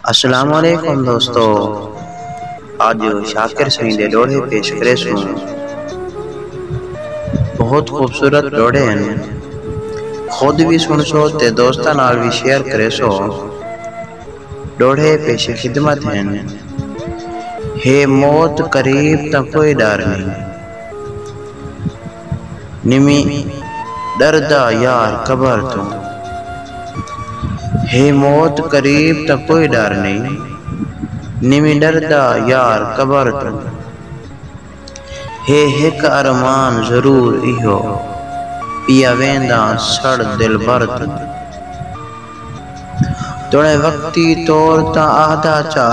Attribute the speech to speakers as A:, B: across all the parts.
A: السلام علیکم دوستو آج شاکر سائیں دے ڈوہڑے پیش کرے سوں بہت خوبصورت ڈوہڑے ہیں خود بھی سن سو تے دوستاں نال بھی شیئر کرے سو ڈوہڑے پیش خدمت ہیں ہے موت قریب تاں کوئی ڈر نہیں نویں ݙردا یار قبر توں ہے موت قریب تاں کوئی ݙر نئیں نویں ݙردا یار قبر توں ہے ہک ارمان ضرور ایہو پیا وینداں سڑ دلبر توں توݨیں وقتی طور تاں آہدا چا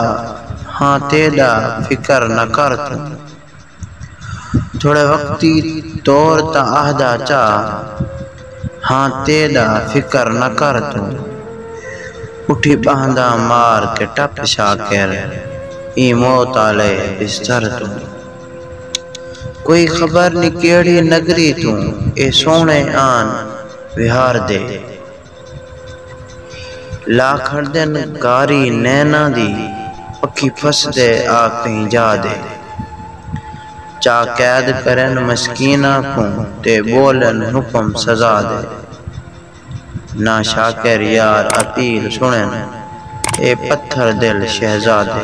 A: ہاں تیݙا فکر نہ کر توں۔ تھوڑے وقتی طور تاں آہدا چا ہاں تیݙا فکر نہ کر توں اٹھی ٻہنداں مار کے ٹپ شاکر ایں موت آلے بستر توں کوئی خبر نی کیہڑی نگری توں اے سوہݨے آن وہاردے لا کھڑدن کاری نیناں دی پکھی پھسدے آ کہیں جاہ دے چا قید کرن مسکیناں کوں تے ٻولن حکم سزا دے نہ شاکر یار اپیل سݨن اے پتھر دل شہزادے۔